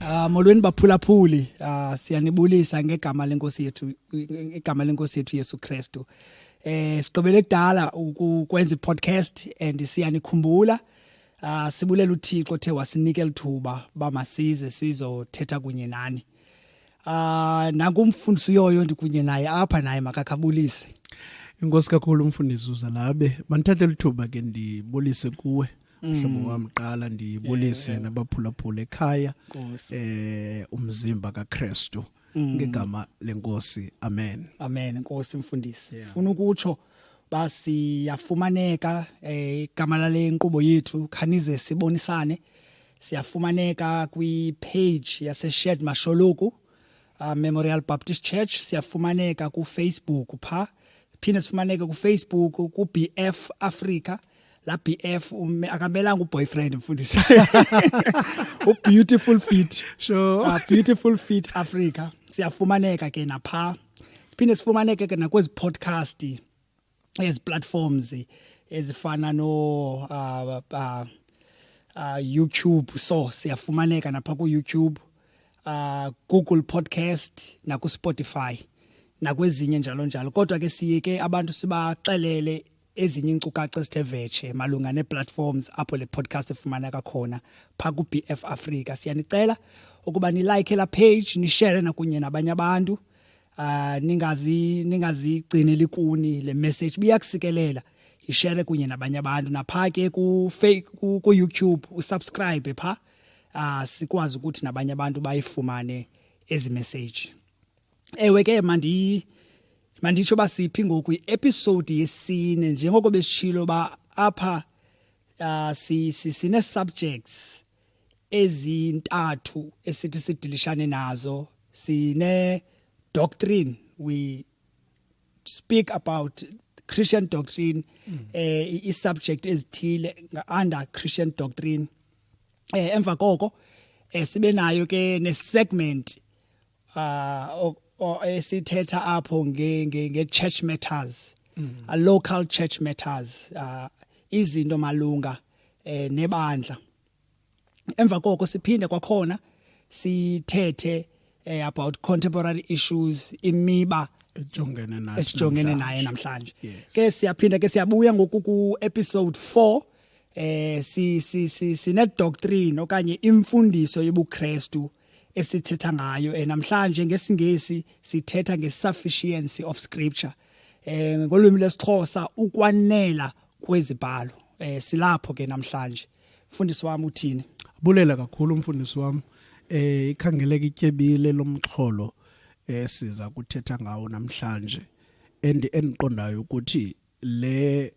Ah molweni baphulaphuli ah siyanibulisa ngegama lenkosi yethu igama lenkosi yethu Yesu Kristu eh siqobele kudala ukwenza podcast and siyanikhumbula ah sibulela uThixo othe wasinika lithuba bamasize sizothetha kunye nani ah nakumfundisi uyoyo ndikunye naye apha naye makakabulise Inkosi kakhulu umfundisi uzalabe bandithathe lithuba ke ndibulise kuwe mhlobo mm. wam qala ndibulise yeah. nabaphulaphula ekhaya eh umzimba kaKristu mm. ngegama lenkosi amen amen nkosi mfundisi yeah. funa ukutsho basiyafumaneka eh, igama eh, lale nkqubo yethu khanize sibonisane siyafumaneka kwi-page yase-shed masholoku uh, memorial baptist church siyafumaneka kufacebook pha phinde sifumaneke kufacebook kubf africa la BF akamelanga uboyfriend mfundisi u beautiful fit sure uh, beautiful fit Africa siyafumaneka ke napha siphinde sifumaneke ke nakwezi podcast ezi platforms ezifana no uh, uh, uh, YouTube so siyafumaneka napha ku YouTube uh, Google podcast na ku Spotify nakwezinye njalo njalo kodwa ke siyeke abantu sibaxelele ezinye inkcukacha esithe vetshe malunga nee-platforms apho le podcast efumaneka khona phaa ku-bf africa siyanicela ukuba nilike la page nishere nakunye nabanye abantu ah ningazi ningazigcineli kuni le message biyakusikelela ishare kunye nabanye abantu napha ke ku ku YouTube usubscribe pha ah sikwazi ukuthi nabanye abantu bayifumane ezi message ewe ke mandi manditsho basiphi ngoku episode yesine njengoko besishilo ba apha uh, si, si sine subjects ezintathu esithi sidilishane nazo sine doctrine we speak about Christian doctrine mm. eh i subject ezithile under Christian doctrine eh emva koko eh sibe nayo ke ne segment ah uh, esithetha apho nge nge church matters mm. a local church matters uh, izinto malunga eh nebandla emva koko siphinde kwakhona sithethe eh, about contemporary issues imiba ejongene nayo esijongene naye namhlanje ke siyaphinda ke siyabuya ngoku ku episode 4 eh si si si sine doctrine okanye imfundiso yobuKristu esithetha ngayo eh, namhlanje ngesingesi sithetha nge-sufficiency of scripture eh ngolwimi lesixhosa ukwanela kwezibhalo eh silapho ke namhlanje mfundisi wami uthini bulela kakhulu umfundisi wami eh ikhangeleka ityebile lomxholo esiza eh, kuthetha ngawo namhlanje endiqondayo ukuthi le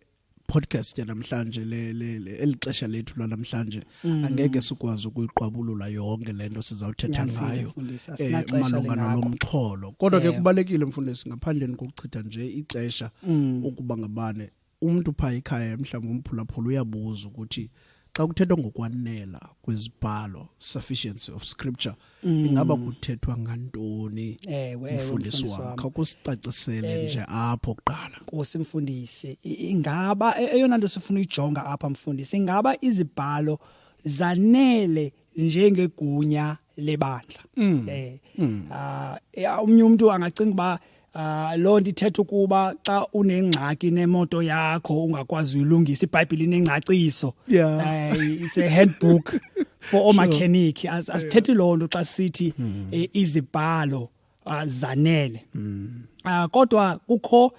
podcast yanamhlanje eli xesha lethu lwanamhlanje mm. angeke sikwazi ukuyiqwabulula yonke le nto sizawuthetha ngayo eh, malunga nalo mxholo kodwa ke kubalekile mfundisi ngaphandleni kokuchitha nje ixesha mm. ukuba ngabane umntu phaa ekhaya mhlawumbi umphulaphula uyabuza ukuthi xa kuthethwa ngokwanela kwezibhalo sufficiency of scripture mm. ingaba kuthethwa ngantoni mfundisi wam kha kusicacisele eh. nje apho kuqala nkosi mfundisi ingaba e-, eyona nto sifuna uyijonga apha mfundisi ingaba izibhalo zanele njengegunya lebandla mm. eh mm. ah uh, umnye umuntu angacinga ba Ah lo nto ithetha ukuba xa unengxaki nemoto yakho ungakwazi uyilungisa iBhayibheli inengcaciso yeah. uh, it's a handbook for all sure. mechanic asithethi lo nto xa sithi mm. eh, izibhalo ah, zanele mm. uh, kodwa kukho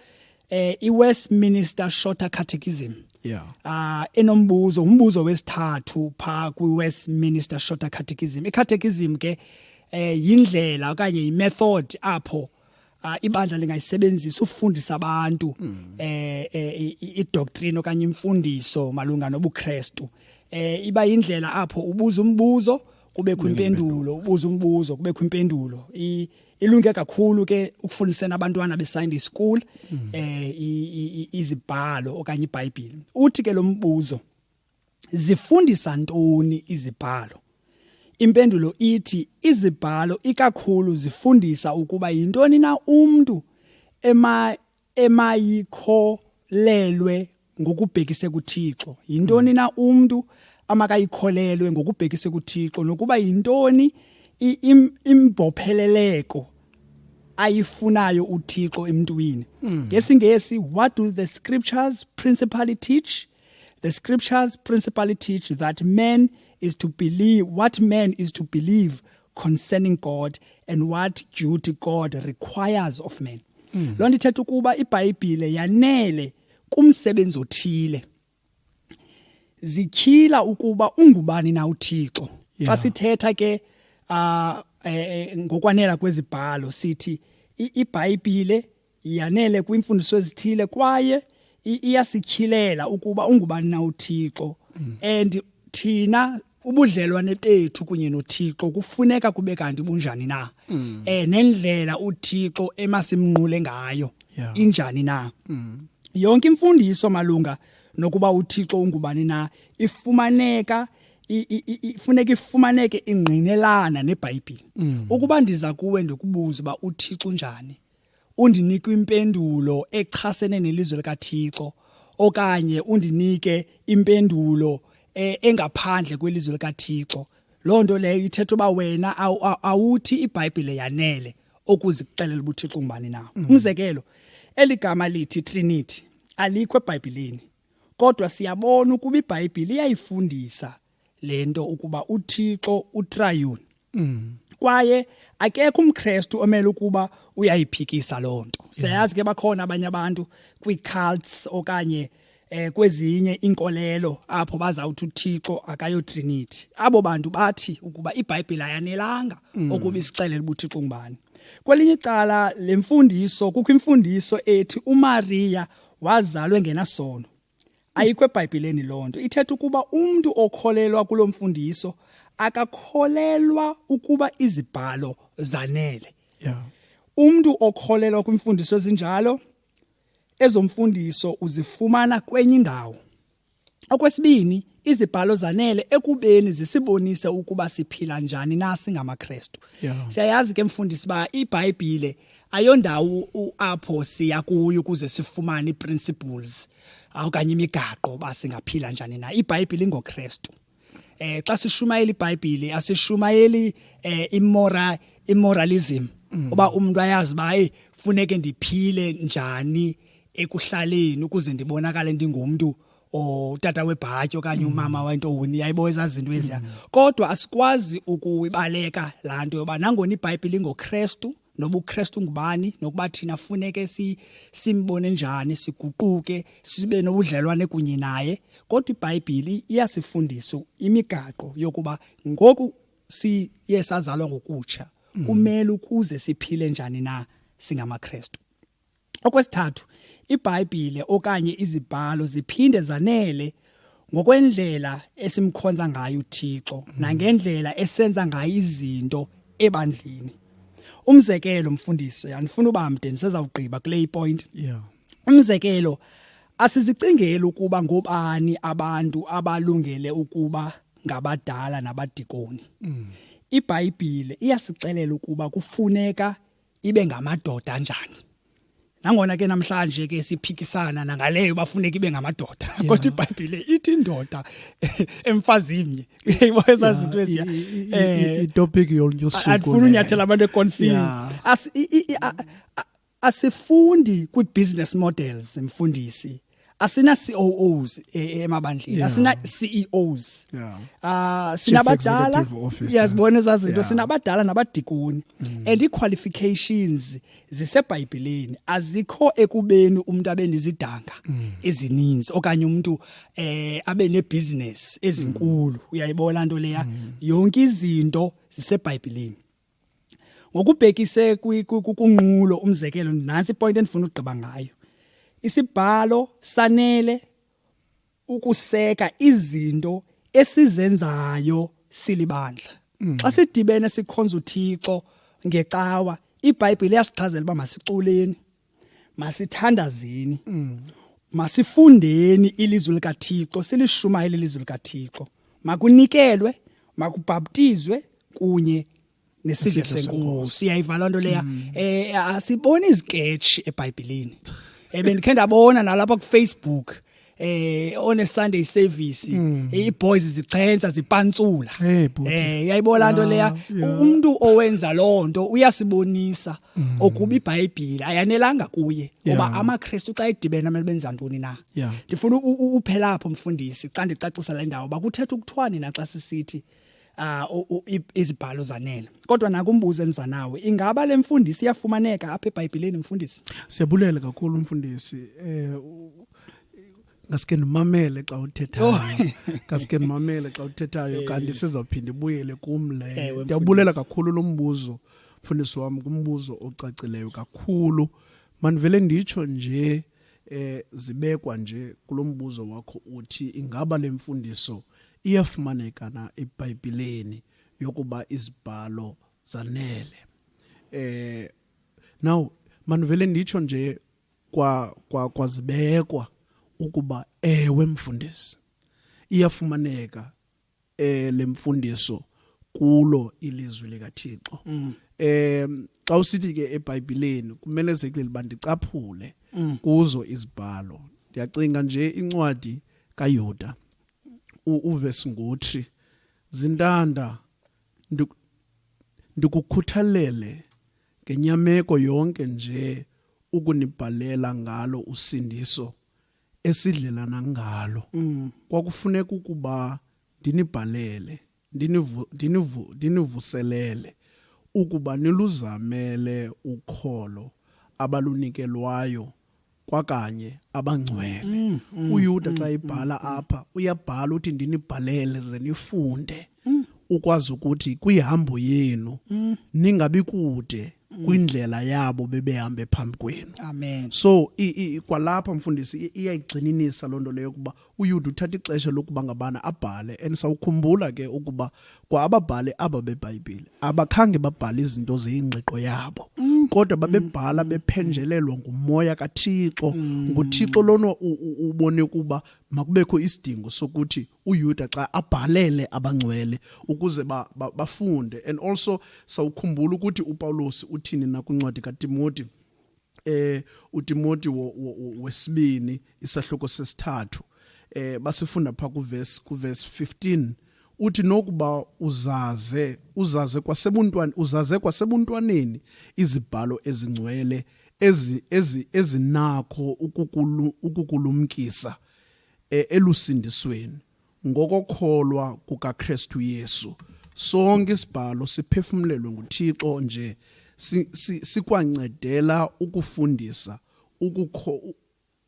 eh iWestminster Shorter Catechism yeah ah enombuzo umbuzo wesithathu pha kwiWestminster Shorter Catechism iCatechism ke eh yindlela okanye imethod apho uh, ibandla lingayisebenzisa ufundisa abantu mm. eh, eh idoctrine okanye imfundiso malunga nobuKristu eh iba indlela apho ubuza umbuzo kubekho impendulo ubuza umbuzo kubekho impendulo ilunge kakhulu ke ukufundisana abantwana beSunday school mm. eh izibhalo okanye iBhayibheli uthi ke lo mbuzo zifundisa ntoni izibhalo impendulo ithi izibhalo ikakhulu zifundisa ukuba yintoni na umuntu ema emayikholelwe ngokubhekise kuThixo yintoni na umuntu amakayikholelwe ngokubhekise kuThixo nokuba yintoni imbopheleleko ayifunayo uThixo emntwini hmm. ngesingesi what do the scriptures principally teach the scriptures principally teach that man is to believe what man is to believe concerning God and what duty God requires of men. Mm. Loo nto ithetha ukuba iBhayibhile yanele kumsebenzi othile. Zikhila ukuba ungubani na uThixo. Yeah. Xa sithetha ke uh, eh, ngokwanela kwezibhalo sithi iBhayibhile yanele kwiimfundiso ezithile kwaye iyasikhilela ukuba ungubani na uthixo mm. and thina ubudlelwane bethu kunye nothixo kufuneka kube kanti bunjani na mm. eh nendlela uthixo emasimnqule ngayo injani na mm. yonke imfundiso malunga nokuba uthixo ungubani na ifumaneka ifuneka ifumaneke ingqinelana nebhayibhile ukuba ndiza kuwe ndikubuza uba uthixo unjani undinike impendulo echasene nelizwe likaThixo okanye undinike impendulo eh, engaphandle kwelizwe likaThixo loo nto leyo ithetha uba wena awuthi ibhayibhile yanele okuzixelela ubuthixo ngubani na mm. umzekelo eli gama lithi trinity alikho ebhayibhileni kodwa siyabona ukuba ibhayibhile iyayifundisa le nto ukuba uthixo utrayuni mm. kwaye akekho umkrestu omele ukuba uyayiphikisa loo nto siyayazi ke bakhona abanye abantu kwii-cults okanye eh kwezinye inkolelo apho bazawuthi uThixo akayo Trinity abo bantu bathi ukuba iBhayibhile ayanelanga mm. ukuba isixelele ubuthixo ngubani kwelinye icala lemfundiso kukho imfundiso ethi uMaria wazalwe ngenasono ayikho ebhayibhileni loo nto ithetha ukuba umntu okholelwa kulo mfundiso akakholelwa ukuba izibhalo zanele yeah. umntu okholelwa kwimfundiso ezinjalo ezomfundiso uzifumana kwenye indawo okwesibini izibhalo zanele ekubeni zisibonise ukuba siphila njani na singamaKristu yeah. siyayazi ke mfundisi ba iBhayibhile ayondawo apho siya kuyo ukuze sifumane iprinciples okanye imigaqo ba singaphila njani na iBhayibhile ingoKristu eh xa sishumayela iBhayibhile asishumayeli eh imora immoralism mm. oba umuntu ayazi ba hey funeke ndiphile njani ekuhlaleni ukuze ndibonakale ndingumntu or tata webhatyi okanye umama mm. wentoni yayibo ezazinto eziya mm. kodwa asikwazi ukuyibaleka laa nto yoba nangona ibhayibhile ingokrestu noba ukrestu ngubani nokuba thina funeke si, simbone njani siguquke sibe nobudlelwane kunye naye kodwa ibhayibhile iyasifundisa imigaqo yokuba ngoku siye sazalwa ngokutsha mm. kumele ukuze siphile njani na singamakrestu Okwesithathu, iBhayibhile okanye izibhalo ziphinde zanele ngokwendlela esimkhonza ngayo uThixo nangendlela esenza ngayo izinto ebandleni. Umzekelo mfundisi, andifuna uba mde ndisezawugqiba kule point. Yeah. Umzekelo asizicingeli ukuba ngobani abantu abalungele ukuba ngabadala nabadikoni. Mm. IBhayibhile iyasixelela ukuba kufuneka ibe ngamadoda anjani nangona ke namhlanje ke siphikisana nangaleyo bafuneka ibe ngamadoda kodwa ibhayibhile ithi indoda emfazini eyibo ezazinto eziya eh, itopic yolunyosuku andifuna unyathela abantu ekonsini asifundi kwi-business models mfundisi asina COOs e, e, emabandleni yeah. asina CEOs yeah. uh, sinabadala iyazibona yeah. ezazinto yeah. sinabadala nabadikoni mm. and iqualifications zisebhayibheleni azikho ekubeni umuntu abe nezidanga mm. ezininzi okanye umuntu eh abe nebusiness ezinkulu mm. uyayibona into leya mm. yonke izinto zisebhayibheleni ngokubhekise kunqulo umzekelo nansi ipoint endifuna ukugqiba ngayo isibhalo sanele ukuseka izinto esizenzayo silibandla mm. xa sidibene sikhonza uThixo ngecawa iBhayibhile yasichazela uba masiculeni masithandazeni mm. masifundeni ilizwi likaThixo silishumayele ilizwi likaThixo makunikelwe makubhaptizwe kunye nesidlo senkosi iyayiva loo nto leya um mm. eh, asiboni iziketshi ebhayibhileni ebendikhe eh, ndabona nalapha kufacebook eh on a Sunday service mm. eh, iboys zixhensa zipantsula eh, eh yayibona into ah, leya umuntu owenza lonto uyasibonisa mm. okuba iBhayibhile ayanelanga kuye ngoba amaKristu xa edibena mele benza ntoni na ndifuna uphela apho mfundisi xa ndicacisa le ndawo bakuthetha ukuthwani na xa sisithi yeah. ah uh, izibhalo zanele kodwa nakumbuzo enza nawe ingaba le mfundisi iyafumaneka apha eBhayibhelini mfundisi siyabulela kakhulu mfundisi eh ngaske ndimamele xa uthethayo oh. ngaske ndimamele xa uthethayo eh. kanti sizawuphinda ibuyele kum le ndiyabulela kakhulu lo mbuzo mfundisi wam kumbuzo ocacileyo kakhulu mandivele nditsho nje eh zibekwa nje kulombuzo wakho uthi ingaba lemfundiso iyafumaneka na eBhayibhelini yokuba izibhalo zanele eh now manivele nditsho nje kwa kwa kwazibekwa ukuba ewe mfundisi iyafumaneka eh lemfundiso kulo ilizwi likaThixo mm. eh xa usithi ke eBhayibhileni kumele sekule bandicaphule mm. kuzo izibhalo ndiyacinga nje incwadi kaYuda uvesi ngothi zintanda ndikukhuthalele ngenyameko yonke nje ukunibhalela ngalo usindiso esidlelana ngalo mm. kwakufuneka ukuba ndinibhalele ndinivu, ndinivu, ndinivuselele ukuba niluzamele ukholo abalunikelwayo kwakanye abangcwele mm, mm, uyuda xa mm, mm, ibhala mm, apha uyabhala uthi ndinibhalele ze nifunde mm. ukwazi ukuthi kwihambo yenu mm. ningabi kude mm. kwindlela yabo bebehambe phambi kwenu amen so kwalapha mfundisi iyayigxininisa loo nto leyo ukuba uyuda uthatha ixesha lokuba ngabana abhale and sawukhumbula ke ukuba kwa ababhali aba bebhayibhile abakhange babhale izinto zeyingqiqo yabo mm. kodwa babebhala mm. bephenjelelwa ngumoya kaThixo mm. nguThixo lona ubone kuba makubekho isidingo sokuthi uYuda xa abhalele abangcwele ukuze ba, ba, bafunde and also sawukhumbula ukuthi uPawulos uthini na kwincwadi kaTimoti eh uTimoti wesibini isahluko sesithathu eh basifunda pha kuverse kuverse 15 uthi nokuba uzaze uzaze kwasebuntwana uzaze kwasebuntwaneni izibhalo ezingcwele ezi ezi ezinakho ukukulumkisa e, elusindisweni ngokokholwa kukaKristu Yesu sonke isibhalo siphefumlelwe nguThixo nje sikwancedela ukufundisa ukukho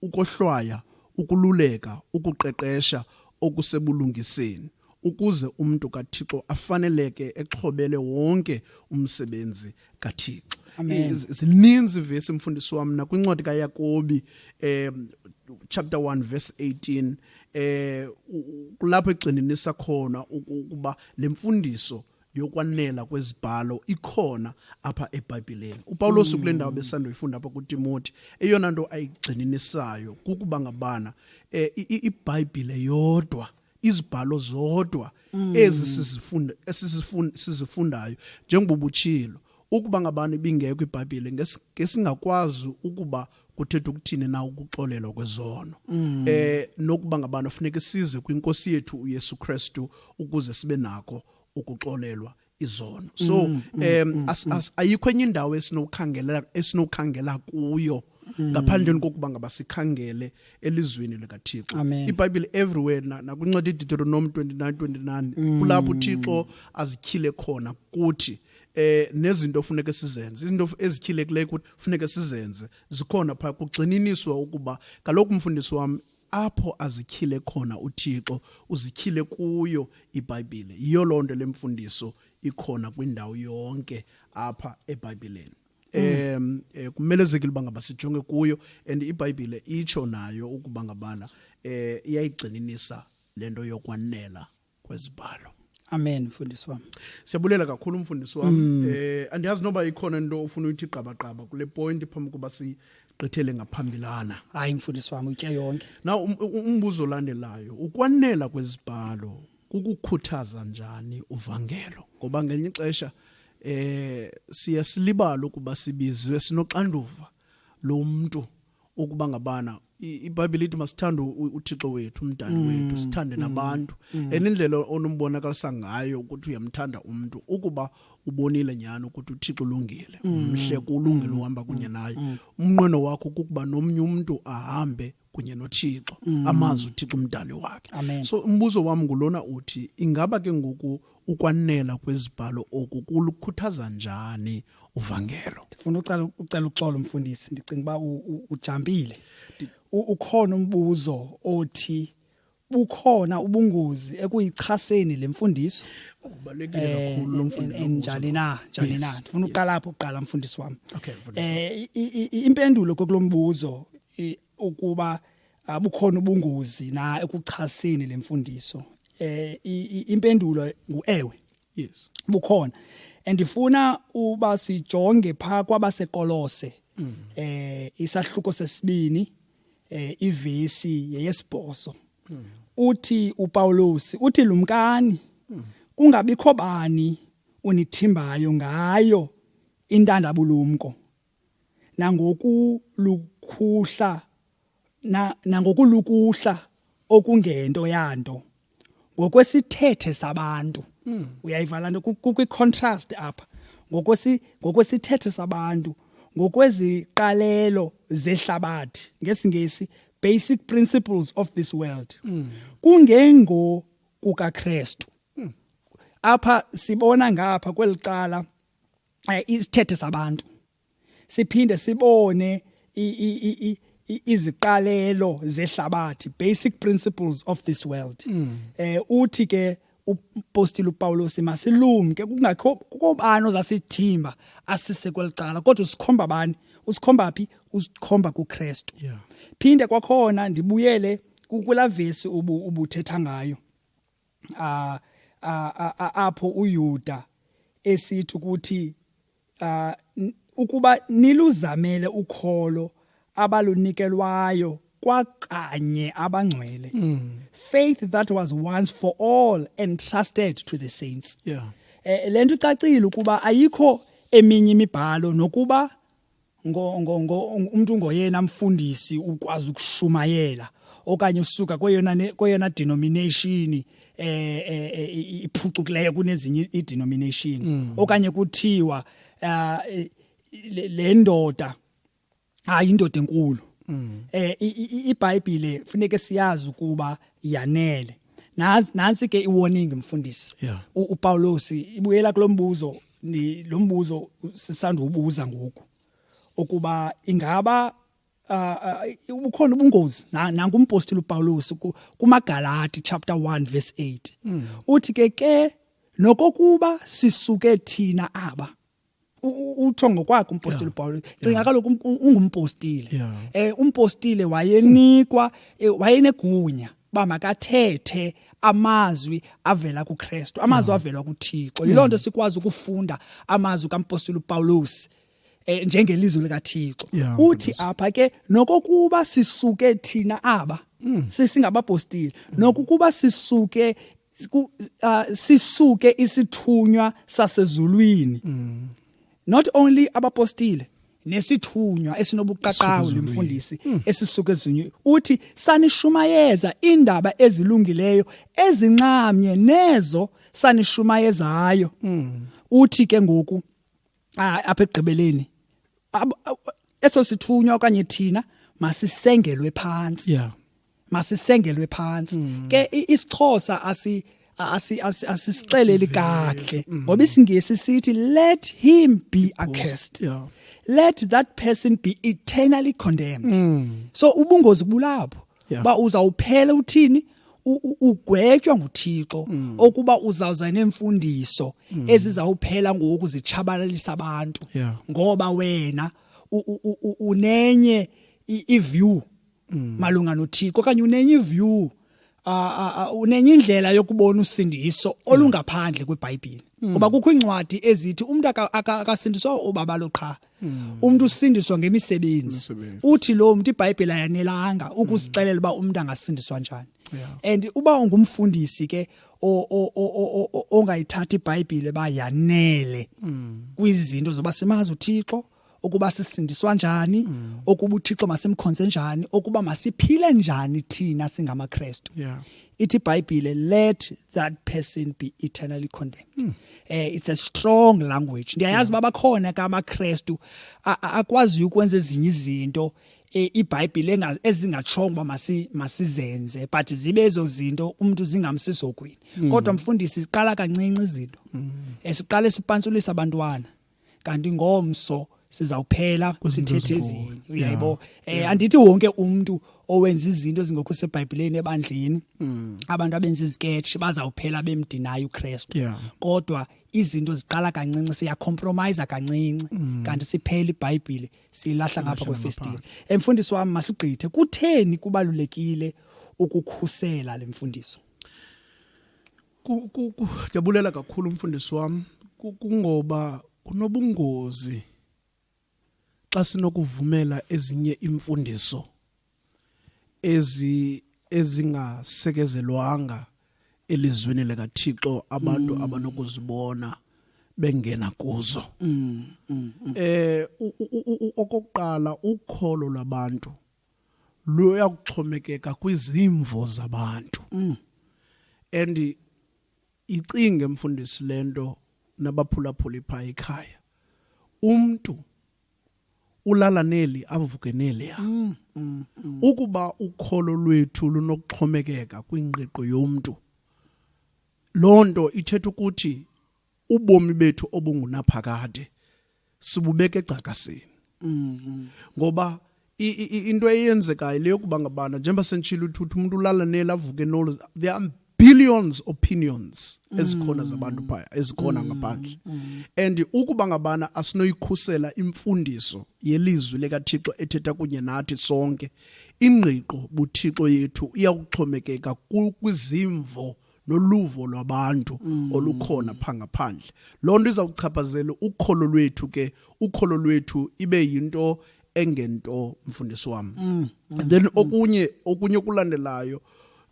ukohlwaya ukululeka ukuqeqesha okusebulungiseni ukuze umntu kaThixo afaneleke exhobele wonke umsebenzi kaThixo zininzi ivesi mfundisi wam nakwincwadi kayakobi um chapter 1 verse 18 eh kulapho egxininisa khona ukuba lemfundiso yokwanela kwezibhalo ikhona apha eBhayibhileni. UPawulos kule ndawo besandoyifunda apha kuTimoti, eyona nto ayigxininisayo kukuba ngabana eh iBhayibhile yodwa izibhalo zodwa mm. ezi sizifunda esizifunda sizifundayo njengoba ubutshilo ukuba ngabani ibingekho ibhayibhile ngesingakwazi ukuba kuthetha ukuthini na ukuxolelwa kwezono mm. eh nokuba ngabani funeka size kwinkosi yethu uYesu Kristu ukuze sibe nako ukuxolelwa izono so mm, mm, em mm, as, mm. as ayikho enye indawo esinokhangela esinokhangela kuyo mm. ngaphandle kokuba ngaba sikhangele elizweni likaThixo iBhayibhile everywhere nakuncwadi iDeuteronomy 29:29 kulapho uThixo azikhile khona kuthi eh nezinto ofuneka sizenze izinto ezikhilekileyo ukuthi funeka sizenze zikhona pha kugxininiswa ukuba kaloku umfundisi wami apho azityhile khona uThixo uzityhile kuyo iBhayibhile yiyo loo nto le mfundiso ikhona kwindawo yonke apha eBhayibhileni um kumelezekile uba ngaba sijonge kuyo and ibhayibhile itsho nayo ukuba ngabana um iyayigxininisa le nto yokwanela kwezibhalo amen mfundisi wam siyabulela kakhulu umfundisi wam mm. eh andiyazi noba ikhona into ofuna uyithi qabaqaba kule point phambi kuba si gqithele ngaphambilana hayi mfundisi wami utye yonke na um, um, umbuzo olandelayo ukwanela kwezibhalo kukukhuthaza njani uvangelo ngoba ngelinye ixesha eh siya silibala ukuba sibizwe sinoxanduva lo mntu ukuba ngabana ibhayibhile ithi masithande uthixo wethu umdali mm, wethu sithande mm, nabantu mm. and indlela onombonakalisa ngayo ukuthi uyamthanda umntu ukuba ubonile nyhani ukuthi uthixo ulungile mhle kulungile uhamba kunye naye umnqweno wakho kukuba nomnye umntu ahambe kunye nothixo amazi uthixo umdali wakhe so umbuzo wam ngulona uthi ingaba ke ngoku Ukwanela kwezibhalo oku kulukhuthaza njani uvangelo? Ndifuna ucela ucela uxolo mfundisi, ndicinga uba u- u- ujambile. U- Ukhona umbuzo othi bukhona ubungozi ekuyichaseni le mfundiso Ubalulekile eh, kakhulu lo en- mfundi en- lo mbuzo. njani na njani Yes, na ndifuna yes. uqala apho kuqala mfundisi wam Okay, mfundisi. eh i- i- i- impendulo kokulo mbuzo i- ukuba ah, bukhona ubungozi na ekuchaseni le mfundiso eh impendulo nguewe yes bukhona andifuna uba sijonge pha kwabasekolose mm. eh isahluko sesibini eh ivesi yeyesibhoso mm. uthi uPawulos uthi lumkani mm. kungabikho bani unithimbayo ngayo intandabulumko nangokulukuhla na, nangokulukuhla okungento yanto ngokwesithethe sabantu mm. uyayiva lanto kukwi contrast apha ngokwesi ngokwesithethe sabantu ngokweziqalelo zehlabathi ngesingesi basic principles of this world mm. kungengo kukaKristu mm. apha sibona ngapha kwelicala eh, isithethe sabantu siphinde sibone iziqalelo zehlabathi basic principles of this world mm. eh uthi ke upostile uPawulos masilumke kungakho kobani ozasithimba asise kwelicala kodwa usikhomba bani usikhomba phi usikhomba kuKristu yeah. phinde kwakhona ndibuyele kukulavesi ubu ubuthetha ngayo uh, apho uYuda esithi ukuthi uh, ukuba niluzamele ukholo abalunikelwayo kwakanye abangcwele mm. faith that was once for all entrusted to the saints yeah. eh, lento icacile ukuba ayikho eminye imibhalo nokuba ngo, ngo, ngo, umntu ngoyena mfundisi ukwazi ukushumayela okanye usuka kweyona kweyona denomination eh, eh, eh iphucukileyo kunezinye idenomination mm. okanye kuthiwa ah, eh, le ndoda hayi indoda enkulu mm. eh iBhayibhile funeke siyazi ukuba yanele nansi ke iwarning mfundisi uPawulos ibuyela kulombuzo ni lo mbuzo sisandubuza ngoku ukuba ingaba uh, ubukhona ubungozi nangu umpostile uPaulus kumaGalati chapter 1 verse 8 mm. uthi ke ke nokokuba sisuke thina aba utho ngokwakhe umpostile yeah. Paul cinga yeah. kaloku um, um, ungumpostile yeah. eh umpostile wayenikwa eh, wayenegunya uba makathethe amazwi avela kuKristu amazwi mm. avela kuThixo yiloo nto mm. sikwazi ukufunda amazwi kampostoli uPawulos eh, njengelizwi likaThixo uthi apha ke nokokuba sisuke thina aba mm. sisingabapostile nokukuba sisuke sisuke isithunywa sasezulwini mm. not only abapostile nesithunywa esinobuqaqawo nemfundisi mm. esisuke ezinye uthi sanishumayeza indaba ezilungileyo ezinxamnye nezo sanishumayezayo mm. uthi ke ngoku ah, apha ekugqibeleni eso sithunywa okanye thina masisengelwe phansi yeah masisengelwe phansi mm. ke isixhosa asi asisixeleli kahle mm. ngoba isingisi sithi let him be accursed yeah. let that person be eternally condemned mm. so ubungozi bulapho yeah. ba uzawuphela uthini yeah. ugwetywa nguThixo mm. okuba uzawuza nemfundiso mm. ezizawuphela ngoku zitshabalalisa abantu ngoba wena unenye iview mm. malunga noThixo okanye unenye iview unenye indlela yokubona usindiso olungaphandle kweBhayibhile ngoba kukho iincwadi ezithi umuntu akasindiswa ubaba lo qha Hmm. umuntu usindiswa ngemisebenzi uthi lo muntu iBhayibheli ayanelanga hmm. ukusixelela uba umuntu angasindiswa njani and uba ungumfundisi ke ongayithatha iBhayibheli ba yanele hmm. kwizinto zoba simazi uThixo ukuba sisindiswa njani ukuba uThixo masimkhonze njani ukuba masiphile njani thina singamaKristu ithi iBhayibheli let that person be eternally condemned eh it's a strong language ndiyayazi uba bakhona ke amakrestu akwaziyo ukwenza ezinye izinto eh, ibhayibhile ezingatshongo uba masizenze but zibe ezo zinto umntu zingamsisogwini mm. kodwa mfundisi siqala kancinci izinto mm. eh, siqale sipansulisa abantwana kanti ngomso sizawuphela sithethe ezinye uyayibo eh andithi wonke umuntu owenza izinto ezingekho sebhayibhileni ebandleni mm. abantu abenza iziketshi bazawuphela bemdinayo uKristu kodwa izinto ziqala kancinci siya compromise kancinci mm. kanti siphela iBhayibhile silahla ngapha kwefestile emfundisi wami masigqithe kutheni kubalulekile ukukhusela lemfundiso Kujabulela kakhulu umfundisi wam kungoba kunobungozi xa sinokuvumela ezinye imfundiso ezi ezingasekezelwanga elizwini likaThixo abantu mm. abanokuzibona bengena kuzo mm, mm, eh okokuqala ukholo lwabantu luya kuxhomekeka kwizimvo zabantu mm. and icinge mfundisi lento nabaphulaphuli pha ekhaya umntu ulala neli avuke neli ya mm, mm, mm. ukuba ukholo lwethu lunokuxhomekeka kwingqiqo yomntu loo nto ithetha ukuthi ubomi bethu obungunaphakade sibubeka egcakasini mm-hmm. ngoba into eyenzekayo le yokuba ngabana njengoba senditshile uthutha umuntu ulala neli avuke nolo there are billions opinions ezikhona mm. zabantu phaya ezikhona mm. ngaphandle mm. and ukuba ngabana asinoyikhusela imfundiso yelizwi lekaThixo ethetha kunye nathi sonke ingqiqo buThixo yethu iyakuxhomekeka kwizimvo noluvo lwabantu mm. olukhona pha ngaphandle loo nto izawuchaphazela ukholo lwethu ke ukholo lwethu ibe yinto engento mfundisi wam mm. mm. and then mm. okunye okunye okulandelayo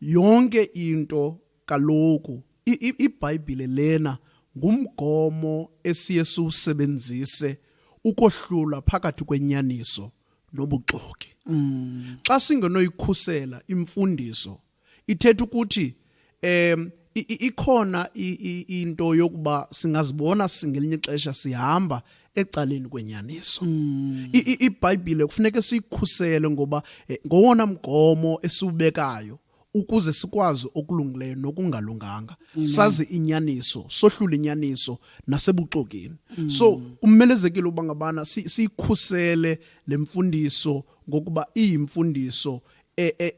yonke into kaloku ibhayibhile lena ngumgomo esiye siwusebenzise ukohlula phakathi kwenyaniso nobuxoki mm. xa singenoyikhusela imfundiso ithetha ukuthi um ikhona into yokuba singazibona singelinye ixesha sihamba ecaleni kwenyaniso mm. ibhayibhile kufuneka siyikhusele ngoba eh, ngowona mgomo esiwubekayo ukuze sikwazi okulungileyo nokungalunganga sazi inyaniso sohlule inyaniso nasebuxokeni mm. so kumelezekile uba ngabana siyikhusele le mfundiso ngokuba iyimfundiso e, e,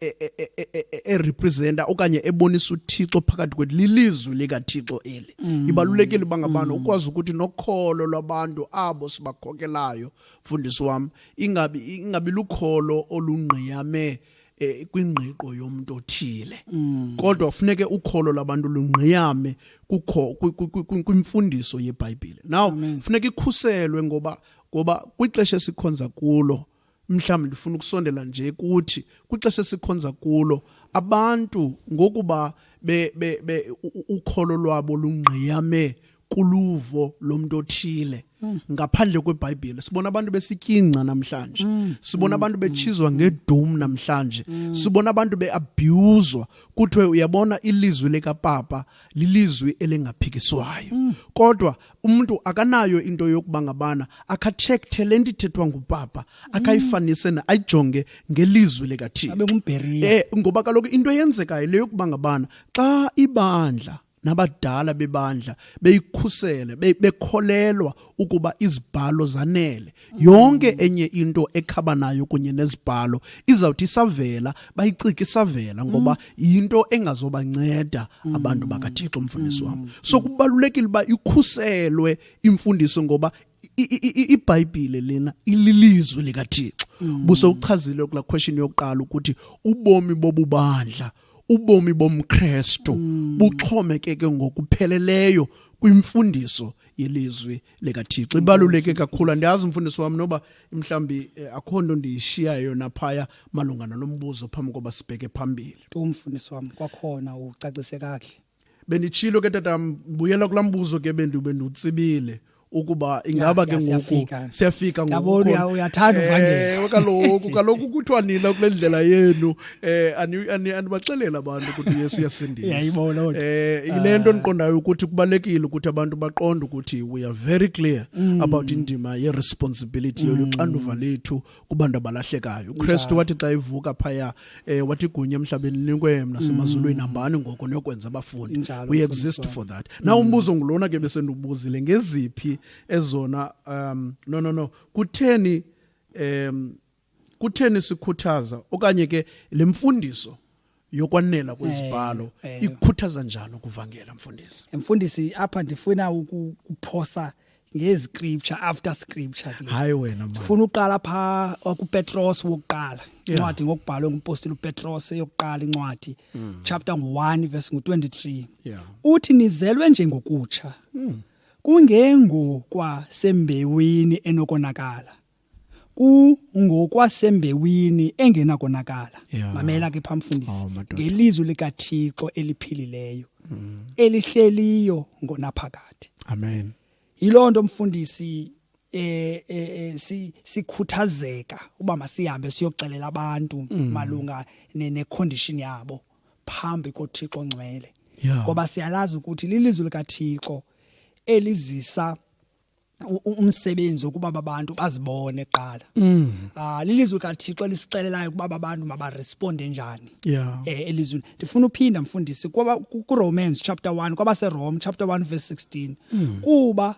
e, erepresenta okanye ebonisa uthixo phakathi kwethu lilizwi likathixo eli mm. ibalulekile uba ngabana mm. ukwazi ukuthi nokholo lwabantu abo sibakhokelayo mfundisi wam ingabi ingabi lukholo olungqiyame eh, kwingqiqo yomuntu othile mm. kodwa kufuneke ukholo labantu lungqiyame kukho kwimfundiso yebhayibhile now kufuneka ikhuselwe ngoba ngoba kwixesha esikhonza kulo mhlawumbi ndifuna ukusondela nje kuthi kwixesha esikhonza kulo abantu ngokuba be, be, be ukholo lwabo lungqiyame kuluvo lomuntu othile mm. ngaphandle kwebhayibhile sibona abantu besityingca namhlanje mm. sibona mm. abantu betshizwa mm. ngedum namhlanje mm. sibona abantu beabhuzwa kuthiwe uyabona ilizwi likapapa lilizwi elingaphikiswayo mm. kodwa umuntu akanayo into yokuba ngabana akatshekte le nto ithethwa ngupapa akayifanise na ayijonge ngelizwi likathixo abe ngumbheriya eh ngoba kaloku into eyenzekayo le yokuba ngabana xa ibandla nabadala bebandla beyikhusele be- bekholelwa ukuba izibhalo zanele yonke enye into ekhaba nayo kunye nezibhalo izawuthi isavela bayicike isavela ngoba yinto engazobanceda abantu bakathixo mfundisi wam so kubalulekile uba ikhuselwe imfundiso ngoba i- i- i- ibhayibhile lena ililizwi likathixo buse uchazile kula question yokuqala ukuthi ubomi bobubandla ubomi bomkrestu buxhomekeke ngokupheleleyo kwimfundiso yelizwi likathixo ibaluleke kakhulu andiyazi umfundisi wam noba mhlawumbi eh, akho nto ndiyishiyayo naphaya malunga nalo mbuzo phambi koba sibheke phambili tu mfundisi wam kwakhona ucacise kakuhle benditshilo ke tata mbuyela kulaa mbuzo ke bendiwutsibile ukuba ingaba ke ngoku siyafika ngokuyathanda eh, uvangela kaloku kaloku kuthiwa nina kule ndlela yenu eh andibaxelela abantu ukuthi Yesu uyasindisa yayibona kodwa eh ilento ah. endiqondayo ukuthi kubalekile ukuthi abantu baqonde ukuthi we are very clear mm. about indima ye responsibility mm. yoluxanduva lethu kubantu abalahlekayo uKristu wathi xa ivuka phaya eh wathi igunya emhlabeni linikwe mna semazulwini mm. hambani ngoko niyokwenza abafundi we exist for that now umbuzo ngulona ke besendubuzile ngeziphi ezona um no no no kutheni um kutheni sikhuthaza okanye ke le mfundiso yokwanela kwezibhalo eh, eh. ikhuthaza njani ukuvangela mfundisi mfundisi apha ndifuna ukuphosa ngeziscripture after scripture ke hayi wena manje ufuna uqala pha kuPetros wokuqala incwadi ngokubhalwe ngumpostoli uPetros eyokuqala incwadi mm. chapter 1 verse 23 uthi nizelwe nje ngokutsha mm. kungengokwa sembewini enokonakala kungokwasembewini engenakonakala yeah. mamela ke phamfundisi oh, ngelizwi likaThixo eliphilileyo mm. elihleliyo ngonaphakade amen yilonto mfundisi eh, eh, eh si sikhuthazeka uba masihambe siyoxelela abantu mm. malunga ne, ne condition yabo phambi koThixo ngcwele ngoba yeah. siyalazi ukuthi lilizwi likaThixo elizisa umsebenzi ukuba babantu bazibone kuqala mm. ah lilizwe kaThixo lisixelelayo ukuba babantu mabaresponde njani yeah eh elizweni ndifuna uphinda mfundisi kuba ku Romans chapter 1 kwaba se Rome chapter 1 verse 16 mm. kuba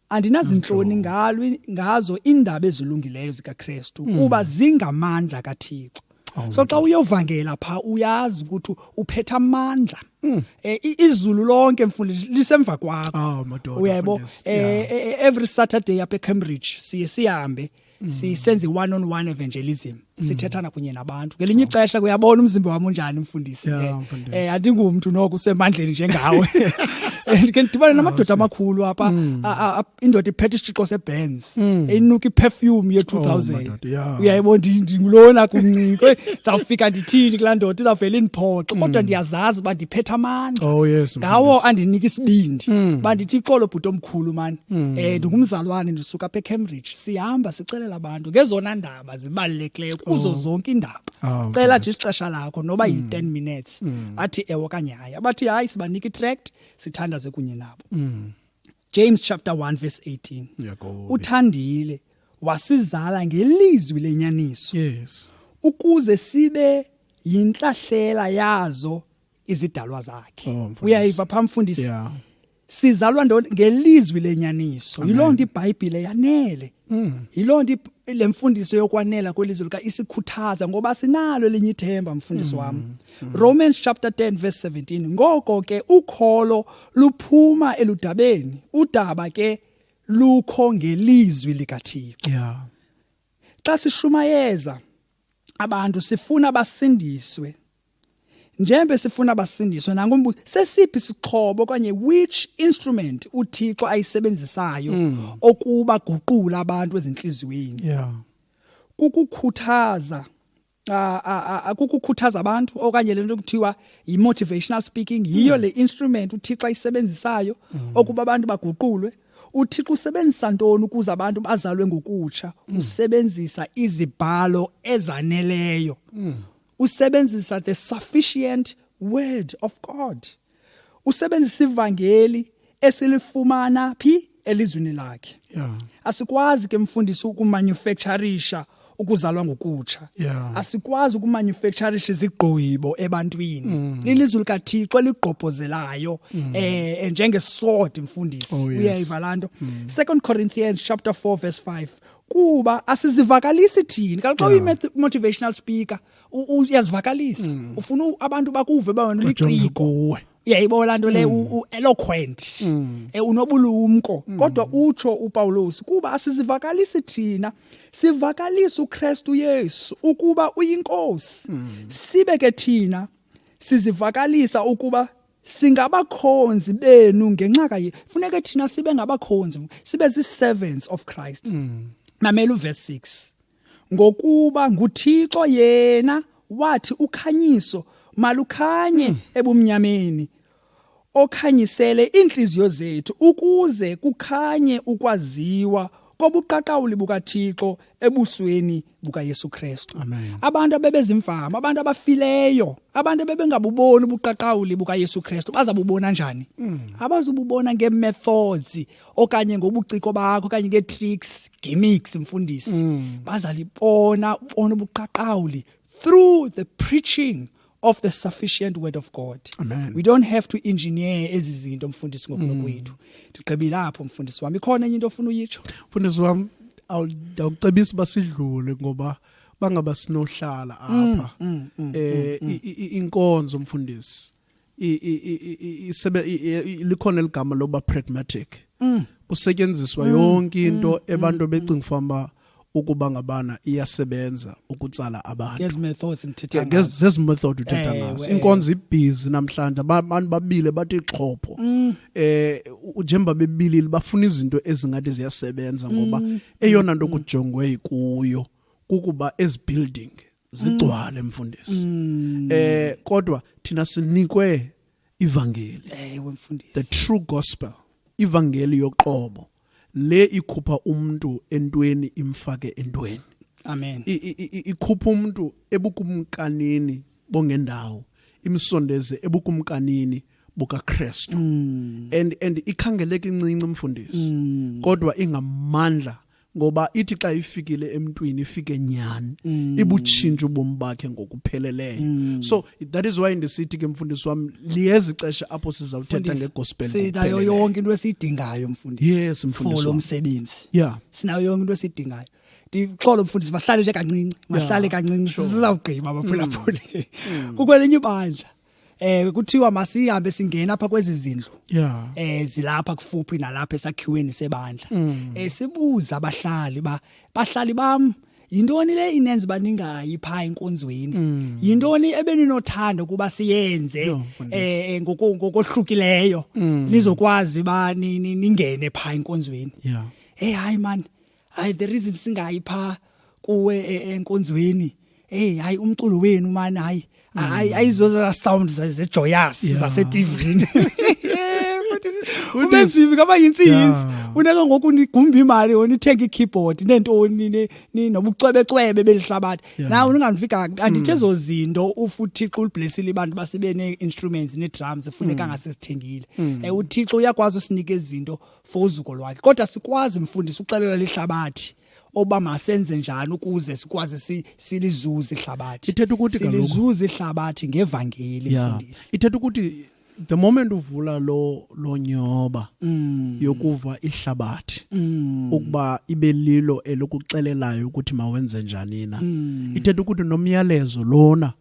andinazinhloni ngalo ngazo indaba ezilungileyo zikaKristu mm. kuba zingamandla kaThixo Oh, so xa uyovangela pha uyazi ukuthi uphetha amandla mm. eh, izulu lonke mfundisi lisemva kwakho oh, uyaybo eh, eh, every saturday apha ecambridge siye sihambe mm. sisenze one on one evangelism mm. sithethana kunye nabantu ngelinye oh. ixesha kuyabona umzimba wami unjani mfundisi eh andingumntu noko usemandleni njengawe ke ndidibane namadoda amakhulu apha indoda iphethe isitshixo sebenz Philips mm. enuka iperfume ye 2000 oh, yeah. uyayibona ndingulona kuncinci zawufika ndithini kula ndoda izawuvela indiphoxo mm. kodwa ndiyazazi uba ndiphethe amandla oh, yes, ngawo yes. andinika isibindi mm. bandithi ixolo bhuti omkhulu mani mm. um eh, ndingumzalwane ndisuka apha ecambridge sihamba sixelela abantu ngezona ndaba zibalulekileyo kuzo oh. zonke iindaba oh, cela nje ixesha lakho noba mm. yi-10 minutes mm. athi ewe okanye hayi abathi hayi sibanika itract sithandaze kunye nabo mm. James chapter 1 verse 18. Yakobe. Uthandile wasizala ngelizwi lenyaniso. Yes. Ukuze sibe yinhlahlela yazo izidalwa zakhe. Oh, Uyayiva phambi mfundisi. Yeah. Sizalwa ngelizwi lenyaniso. Yilonto iBhayibhile yanele. Mm. Yiloo nto le mfundiso yokwanela kwelizwe lika isikhuthaza ngoba sinalo elinye ithemba mfundisi wam. Mm. Mm. Romans chapter 10 verse 17. Ngoko ke ukholo luphuma eludabeni. Udaba ke lukho ngelizwi likaThixo. Yeah. Xa sishumayeza abantu sifuna basindiswe Njembe sifuna basindiswe nangu umbuzo sesiphi isixhobo okanye which instrument uThixo ayisebenzisayo mm. okuba guqula abantu ezinhliziyweni. Yeah. Kukukhuthaza akukukhuthaza abantu okanye lento kuthiwa yi-motivational speaking yiyo mm. le instrument uThixo ayisebenzisayo mm. okuba abantu baguqulwe uThixo usebenzisa ntoni ukuze abantu bazalwe ngokutsha mm. usebenzisa izibhalo ezaneleyo usebenzisa the sufficient word of God usebenzisa ivangeli esilifumana phi elizwini lakhe yeah. asikwazi ke mfundisi ukumanufacturisha ukuzalwa ngokutsha yeah. asikwazi ukumanufacturisha izigqibo ebantwini mm. lilizwi likathixo eligqobhozelayo mm. eh njengesword mfundisi oh, yes. uyayiva lanto mm. 2 corinthians chapter 4 verse 5 kuba asizivakalisi thini kaloku xa uyi-motivational speaker uyazivakalisa mm. ufuna abantu bakuve uba wena uliciko uyayibona laa nto le mm. u-eloquent mm. eh, unobulumko kodwa utsho upawulos kuba asizivakalisi thina sivakalisa ukrestu yesu ukuba uyinkosi sibe ke thina sizivakalisa ukuba singabakhonzi benu ngenxa kaye funeka thina sibe ngabakhonzi sibe zi-servants of christ mm. mamela uvesi 6 ngokuba nguthixo yena wathi ukhanyiso malukhanye mm. ebumnyameni okhanyisele iintliziyo zethu ukuze kukhanye ukwaziwa kobuqaqawuli bukathixo ebusweni bukaYesu Kristu. Abantu abebezimfama, abantu abafileyo, abantu abebengabuboni ubuqaqawuli bukaYesu Kristu bazabubona njani? Mm. Abazububona ngeemethods okanye ngobuciko bakho okanye ngee-tricks, gimmicks mfundisi. Mm. Bazalibona bona ubuqaqawuli through the preaching of the sufficient word of God. Amen. We don't have to engineer ezi zinto mfundisi ngokulo mm. kwethu. Ndigqibile apho mfundisi wami. Ikhona enye into ofuna uyitsho? Mfundisi wami awucebisa basidlule ngoba bangaba sinohlala mm, apha. Mm, mm, eh mm, mm. inkonzo mfundisi. Isebe likhona eligama loba pragmatic. Mm. Kusetyenziswa mm, yonke into mm, abantu mm, becinga mm. famba ukuba ngabana iyasebenza ukutsala abantu ngezi methods ndithetha ngazo ngezi method uthetha ngazo inkonzo ibhizi namhlanje abantu babile bathi xhopho mm. eh njengoba bebilile bafuna izinto ezingathi ziyasebenza ngoba mm. eyona nto mm. kujongwe kuyo kukuba ezi building zigcwale mm. mfundisi mm. eh kodwa thina sinikwe ivangeli ewe mfundisi the true gospel ivangeli yoqobo le ikhupha umuntu entweni imfake entweni amen ikhupha umuntu ebukumkanini bongendawo imsondeze ebukumkanini bukaKristu mm. and and ikhangeleka incinci mfundisi mm. kodwa ingamandla ngoba ithi xa ifikile emntwini ifike nyhani mm. ibutshintsha ubomi bakhe ngokupheleleyo mm. so that is why ndisithi ke mfundisi wam liyeza ixesha apho sizawuthetha ngegospel sinayo yonke into esiyidingayo mfundisi yes mfundisi for lo msebenzi yeah sinayo yonke into esiyidingayo ndixolo mfundisi mahlale nje kancinci mahlale kancinci sizawugqiba baphulaphule mm. mm. kukwelinye ibandla eh kuthiwa masihambe singena apha kwezi zindlu yeah eh zilapha kufuphi nalapha esakhiweni sebandla mm. eh sibuza abahlali ba bahlali bam yintoni le inenzi baningayi pha enkonzweni mm. yintoni ebeninothanda ukuba siyenze eh, eh ngokohlukileyo mm. nizokwazi ba ningene pha enkonzweni yeah hey hayi man hayi the reason singayi pha kuwe e, enkonzweni hey hayi umculo wenu mani hayi hayi mm. ayizoza sound zejoyous zase TVini ubenzivi kaba yinsinzi uneka ngoku nigumba imali onithenga ikeyboard nentoni ni nobucwebecwebe belihlabathi na uningafika andithi mm. ezo zinto ufuthixo uliblessile abantu basebene instruments ne drums funeka mm. ngasisithengile mm. eh uthixo uyakwazi usinike izinto for uzuko lwakhe kodwa sikwazi mfundisi uxelela lihlabathi oba masenze njani ukuze sikwazi silizuze ihlabathi ithetha ukuthi silizuze ihlabathi ngevangeli mfundisi ithetha ukuthi the moment uvula lo lo nyoba mm. yokuva ihlabathi mm. ukuba ibe lilo elokuxelelayo ukuthi mawenze njani na mm. ithetha ukuthi nomyalezo lona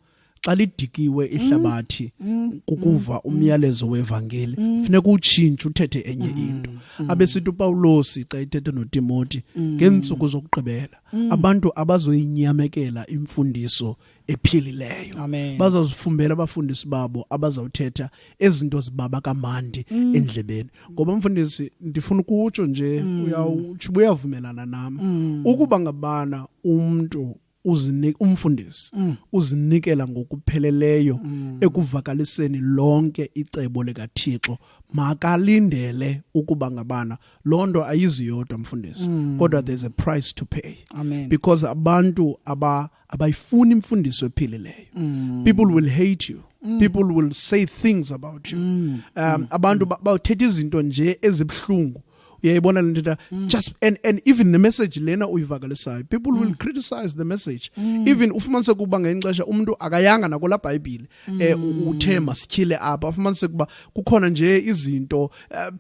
xa lidikiwe ihlabathi mm, mm, kukuva mm, umyalezo wevangeli funeka utshintshe uthethe enye into abesithi upawulosi xa ithethe notimoti ngeentsuku zokugqibela abantu abazoyinyamekela imfundiso ephilileyo bazazifumbela abafundisi babo abazawuthetha ezinto zibaba kamandi mm. endlebeni ngoba mfundisi ndifuna ukutsho nje mm. uyawutsho uyavumelana nam mm. ukuba ngabana umntu uzinika umfundisi mm. uzinikela ngokupheleleyo mm. ekuvakaliseni lonke icebo likaThixo makalindele ukuba ngabana loo nto ayiziyodwa mfundisi mm. kodwa there's a price to pay Amen. because abantu aba abayifuni imfundiso ephilileyo mm. people will hate you Mm. people will say things about you mm. um mm. abantu bawuthetha izinto nje ezibuhlungu mm. uyayibona le nto mm. just and, and even the message lena uyivakalisayo people mm. will criticize the message mm. even ufumanise ukuba ngenye xesha umntu akayanga nakola bhayibhile mm. eh, uthe masityhile apha ufumanise ukuba kukhona nje izinto uh,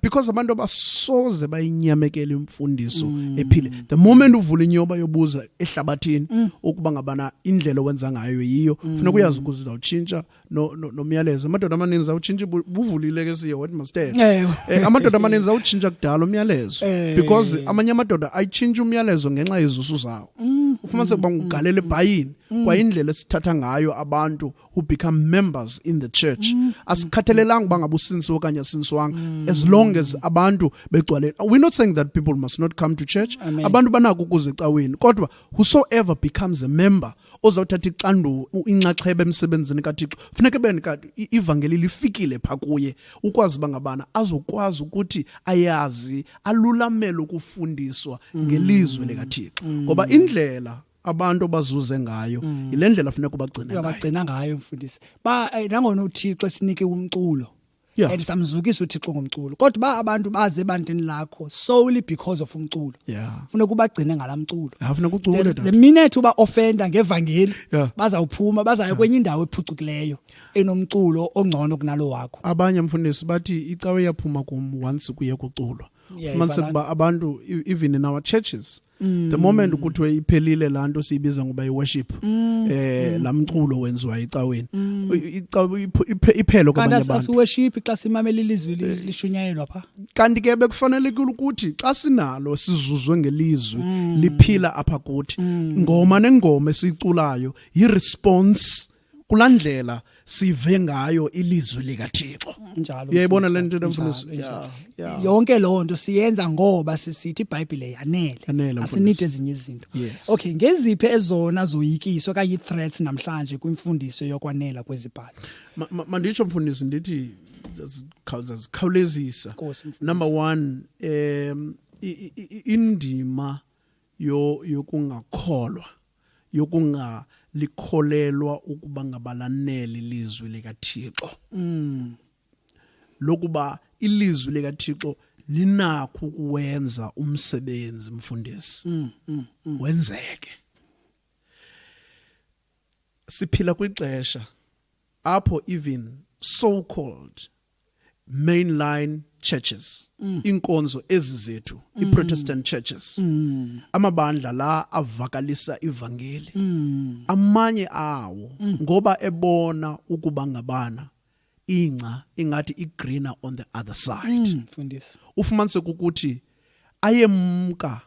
because abantu abasoze bayinyamekela imfundiso mm. ephile the moment uvula inyoba yobuza ehlabathini mm. ukuba ngabana indlela owenza ngayo yiyo mm. funeka uyazi ukuze uzawutshintsha mm. nomyalezo amadoda amaninzi awutshintshe buvulile ke siye wathi masithethe eh, eh, amadoda amaninzi awutshintsha kudala umyalezo eh. because amanye amadoda ayitshintsha umyalezo ngenxa yezusu zawo mm. ufumanise ukuba ngugalela ebhayini mm. kwayindlela esithatha ngayo abantu who become members in the church mm. asikhathalelanga uba ngaba usinsiwe okanye asinsiwanga as long as abantu begcwale we're not saying that people must not come to church abantu banako ukuze ecaweni kodwa whosoever becomes a member ozawuthatha ixanduva inxaxheba emsebenzini kathixo funeka beni ivangeli lifikile pha kuye ukwazi uba ngabana azokwazi ukuthi ayazi alulamele ukufundiswa ngelizwe likathixo mm. ngoba indlela abantu bazuze ngayo mm. yile ndlela funeka ubagcine ngayo ngayo mfundisi ba eh, nangona uthixo esinike umculo yeah. and samzukisa uthixo ngomculo kodwa uba abantu baze ebandleni lakho solely because of umculo yeah. funeka ubagcine ngala mculo yeah, funeka ucule the, the minute uba ofenda ngevangeli yeah. bazawuphuma bazaya yeah. kwenye indawo ephucukileyo enomculo ongcono kunalo wakho abanye mfundisi bathi icawe yaphuma kum once kuye kuculwa yeah, fumaniseka uba abantu even in our churches mm. the moment ukuthi iphelile laa nto siyibiza ngoba iworship um mm. eh, mm. laa mculo wenziwa ecaweni iphelo kwabanye abantu asiworship xa simamela ilizwi eh. lishunyayelwa pha kanti ke bekufanelekile ukuthi xa sinalo sizuzwe ngelizwi liphila apha kuthi ngoma nengoma esiyiculayo yiresponse kulaa ndlela sive ngayo ilizwi likathixo uyayibona le nto ndimfundisa yonke loo nto siyenza ngoba sisithi ibhayibhile yanele asinide ezinye izinto okay ngeziphi ezona zoyikiso okanye ii-threats namhlanje kwimfundiso yokwanela kwezibhalo manditsho mfundisi ndithi zazikhawulezisa number one um indima yokungakholwa yokungalikholelwa ukuba ngabalaneli lizwi likathixo mm. lokuba ilizwi likathixo linakho ukuwenza umsebenzi mfundisi mm, mm, mm. wenzeke siphila kwixesha apho even so called mainline churches mm. inkonzo ezi zethu mm. iprotestant churches mm. amabandla la avakalisa ivangeli mm. amanye awo mm. ngoba ebona ukuba ngabana ingca ingathi igreener on the other side mm, mfundisi ufumanise ukuthi ayemka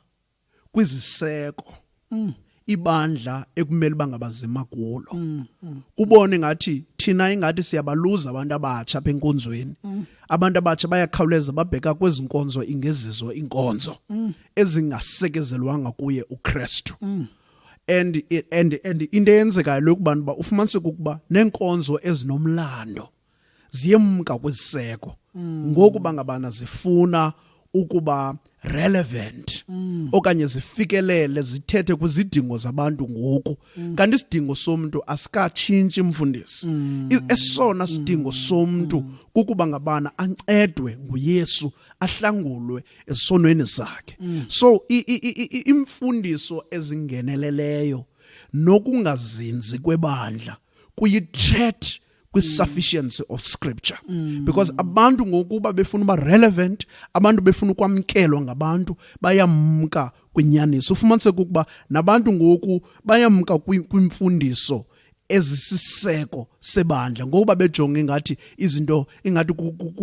kwiziseko mm. ibandla ekumele bangabazima kulo mm, mm. kubone ngathi thina ingathi siyabaluza abantu abatsha apha enkonzweni mm. abantu abatsha bayakhawuleza babheka kwezi nkonzo ingezizo iinkonzo mm. ezingasekezelwanga kuye ukristu mm. and and and into eyenzekayo lokubantu uba ufumaniseka ukuba neenkonzo ezinomlando ziyemka kwiziseko mm. ngokuba ngabana zifuna ukuba relevant mm. okanye zifikelele zithethe kwizidingo zabantu ngoku mm. kanti isidingo somuntu asikatshintshi mfundisi mm. esona sidingo mm. somuntu mm. kukuba ngabana ancedwe nguYesu ahlangulwe esonweni sakhe mm. so imfundiso ezingeneleleyo nokungazinzi kwebandla kuyi threat kwi-sufficiency of scripture mm. because abantu ngokuba befuna uba relevant abantu befuna ukwamkelwa ngabantu bayamka kwinyaniso ufumaniseka ukuba nabantu ngoku bayamka kwimfundiso kwi ezisiseko sebandla ngokuba bejonge ngathi izinto ingathi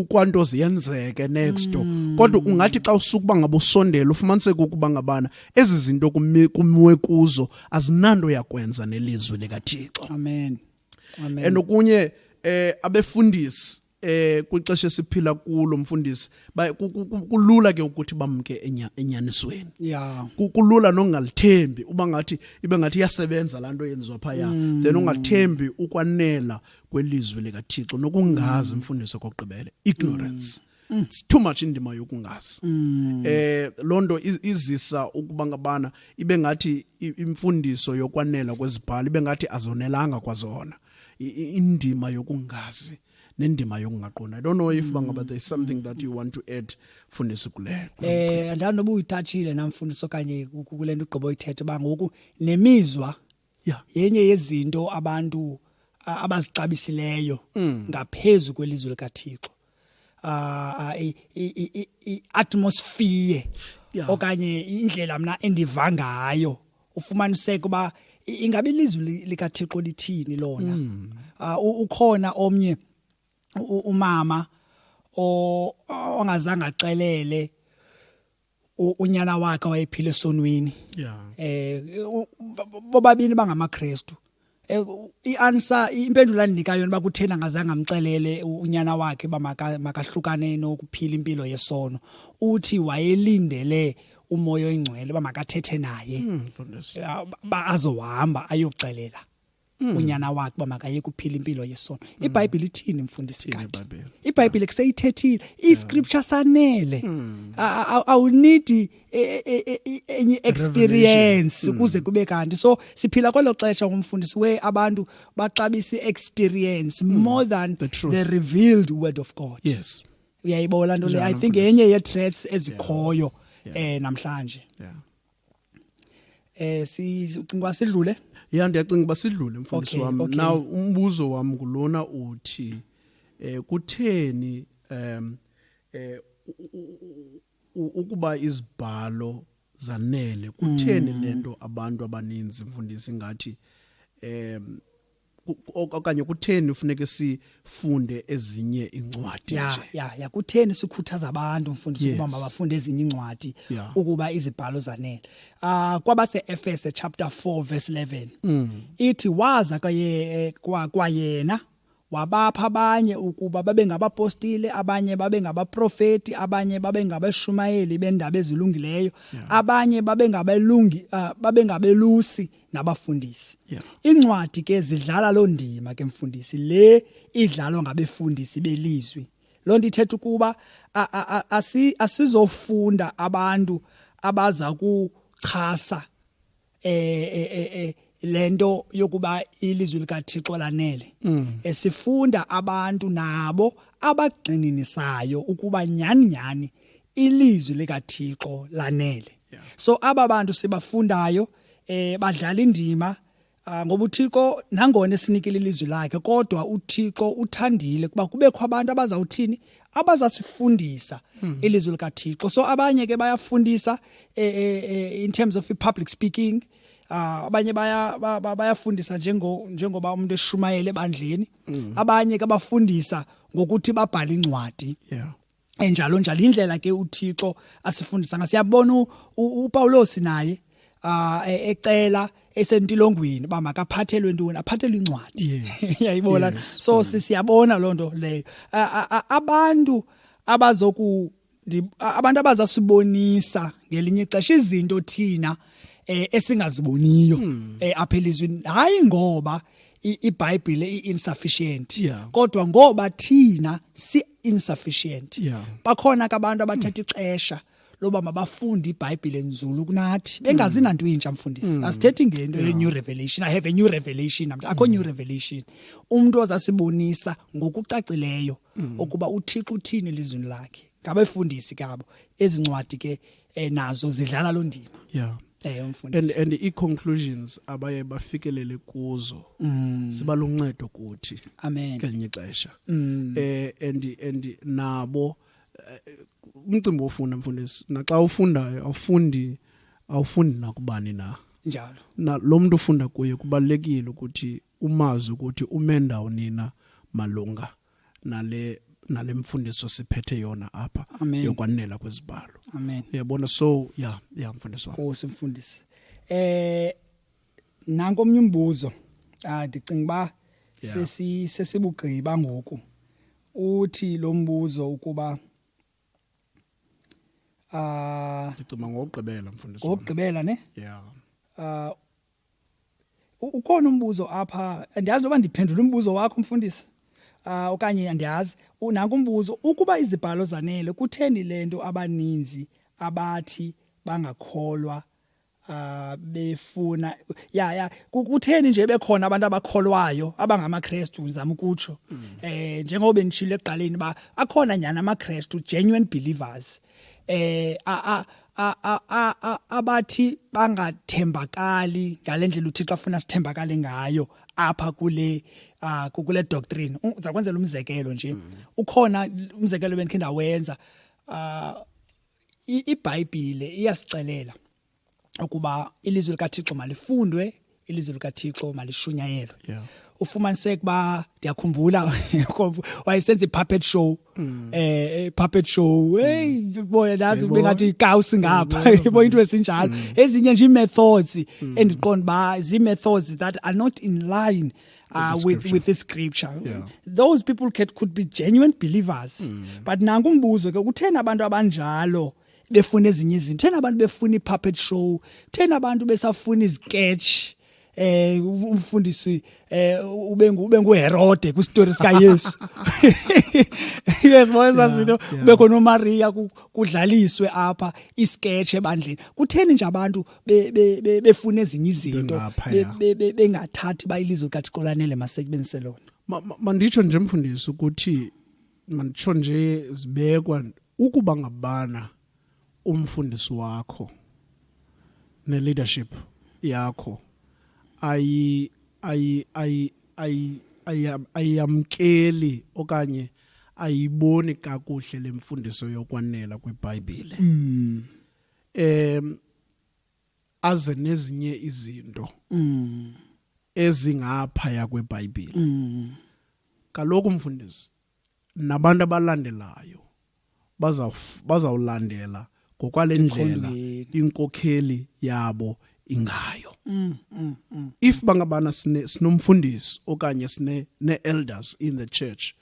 kwanto ziyenzeke next door mm. kodwa ungathi xa usukuba ngabosondela ufumaniseke ukuba ngabana ezi zinto kumiwe kuzo azinanto yakwenza nelizwi likathixo amen Amen. and okunye eh abefundisi eh kwixesha esiphila kulo mfundisi ba- ku- ku- ku- kulula ke ukuthi bamke enya- enyanisweni ya Ku- kulula nongalithembi uba ngathi ibe ngathi iyasebenza laa nto yenziwa phaya Mm. then ungathembi ukwanela kwelizwi likathixo Mm. nokungazi mfundisi okokugqibele ignorance mm. it's too much indima yokungazi mm. eh lonto izisa ukuba ngabana ibe ngathi imfundiso yokwanela kwezibhalo ibe ngathi azonelanga kwazona indima yokungazi nendima yokungaqondi i don't know if bangaba there is something that you want to add fundisi kule eh andanoba uyithatshile namfundisi okanye kule nto ugqiba uyithethe uba ngoku nemizwa yeah. yenye yezinto abantu abazixabisileyo mm. ngaphezu kwelizwe likaThixo uh, i-atmosphere yeah. okanye indlela mna endiva ngayo ufumaniseka uba ingabe ilizwi likaThixo lithini lona mm. uh, ukhona omnye umama ongazange axelele unyana wakhe wayephila esonweni yeah eh bobabini bangamakristu eh, ianswer impendulo andinika yona bakuthena ngazange amxelele unyana wakhe bamakahlukane nokuphila impilo yesono uthi wayelindele umoya oyingcwele bamakathethe naye hmm, bazohamba ayoxelela Hmm. unyana wakhe uba makayeke uphila impilo yesono hmm. ibhayibhile ithini mfundisi kanti ibhayibhile kuseyithethile iscripture sanele hmm. awunidi e, e, e, enye experience ukuze kube kanti so siphila kwelo xesha ngumfundisi we abantu baxabisa i-experience more than the, truth. the revealed word of god yes uyayibola nto le i think yenye ye-threats ezikhoyo um namhlanje yeah. eh sicinga sidlule ya ndiyacinga uba sidlule mfundisi okay, wam okay. na umbuzo wam ngulona uthi eh kutheni um eh ukuba izibhalo zanele kutheni mm. lento abantu abaninzi mfundisi ngathi um okanye kutheni ufuneke sifunde ezinye incwadi ya nje ya ya kutheni sikhuthaza abantu mfundisi yes. ukuba mabafunde ezinye incwadi yeah. ukuba izibhalo zanele ah uh, kwabase Efese chapter 4 verse 11 mm. ithi waza kaye eh, kwa kwayena wabapha abanye ukuba babe ngabapostile abanye babe ngabaprofeti abanye babe ngabeshumayeli bendaba ezilungileyo abanye babe ngabelungi uh, babe ngabelusi nabafundisi yeah. incwadi ke zidlala loo ndima ke mfundisi le idlalwa ngabefundisi belizwi loo nto ithetha ukuba asizofunda abantu abaza kuchasa eh, eh, eh, eh lento yokuba ilizwi likaThixo lanele mm. esifunda abantu nabo abagxininisayo ukuba nyani nyani ilizwi likaThixo lanele so aba bantu sibafundayo eh badlala indima ah, ngoba uThixo nangona esinikile ilizwi lakhe kodwa uThixo uthandile kuba kubekho abantu abazawuthini abazasifundisa hmm. ilizwi likaThixo so abanye ke bayafundisa eh, eh, eh, in terms of public speaking ah, abanye baya bayafundisa njengo njengoba umuntu eshumayele ebandleni hmm. abanye ke bafundisa ngokuthi babhale incwadi yeah enjalo njalo indlela ke uThixo asifundisa ngayo siyabona uPawulos naye ah, e, ecela esentilongweni uba makaphathelwe ntoni aphathelwe incwadi yayibona so mm. siyabona loo nto leyo abantu abazoku abantu abazasibonisa ngelinye ixesha izinto thina eh, esingaziboniyo hmm. eh, apha elizwini hayi ngoba iBhayibhile iinsufficient yeah. kodwa ngoba thina si insufficient yeah. bakhona ke abantu abathatha ixesha loba mabafunde iBhayibhile nzulu kunathi bengazi mm. nanto intsha mfundisi mm. asithethi ngento yeah. new revelation i have a new revelation namntu akho mm. new revelation umuntu ozasibonisa ngokucacileyo mm. ukuba uthixo uthini elizwini lakhe ngabefundisi kabo ezi ncwadi ke eh, nazo zidlala loo ndima yeah. Eh, and and i-conclusions abaye bafikelele kuzo mm. siba luncedo kuthi amen kelinye ixesha mm. eh and and nabo eh, umcimbi ofunda mfundisi naxa ufundayo awufundi awufundi nakubani na njalo na lo muntu ufunda kuye kubalekile ukuthi umazi ukuthi ume ndawonina malunga nale nale mfundiso siphethe yona apha Amen. yokwanela kwezibalo amen uyabona so ya ya mfundisi wami nkosi mfundisi eh nanko omnye umbuzo ah ndicinga ba Yeah. sesi sesibugqiba ngoku uthi lo mbuzo ukuba ah ndicima ngokugqibela mfundisi wami ngokugqibela ne ya ah ukhona umbuzo apha andiyazi noba ndiphendula umbuzo wakho mfundisi uh, okanye andiyazi nanku umbuzo ukuba izibhalo zanele kutheni le nto abaninzi abathi bangakholwa uh, befuna ya ya kutheni nje bekhona abantu abakholwayo abangamakrestu ngizama ukutsho mm. eh njengoba benishilo ekuqaleni ba akhona nyana amakrestu genuine believers eh a, a abathi bangathembakali ngale ndlela uthixo afuna sithembakale ngayo apha kule uh, kule doctrine uza kwenzela umzekelo nje mm. ukhona umzekelo bendikhe ndawenza uh, ibhayibhile iyasixelela ukuba ilizwi likathixo malifundwe ilizwi likathixo malishunyayelwe yeah. ufumaniseka uba ndiyakhumbula wayesenza i-puppet show mm. eh puppet show mm. hey boy nazi ube ngathi ikawusi ngapha ibo into esinjalo mm. ezinye nje methods mm. endiqonda ba zi methods that are not in line uh, with with this scripture yeah. those people could, could be genuine believers mm. but nangu umbuzo ke kuthena abantu abanjalo befuna ezinye izinto thena abantu befuna i-puppet show thena abantu besafuna iziketch eh umfundisi eh ube ube nguHerode ku story sika Yesu yes boyza zinto ube khona uMaria kudlaliswe apha isketch ebandleni kutheni nje abantu befuna ezinye izinto bengathathi bayilizwe kaThixo lanele masekubenzise lona manditsho nje mfundisi ukuthi manditsho nje zibekwa ukuba ngabana umfundisi wakho ne leadership yakho ayi ayi ayi ayi ayamkeli okanye ayiboni kakuhle lemfundiso yokwanela kwiBhayibhile mm. em aze nezinye izinto mm. ezingapha yakweBhayibhile mm. kaloku mfundisi nabantu abalandelayo bazawulandela ngokwale ndlela inkokheli yabo ingayo mm, mm, mm. if bangabana sinomfundisi okanye sine ne-elders in the church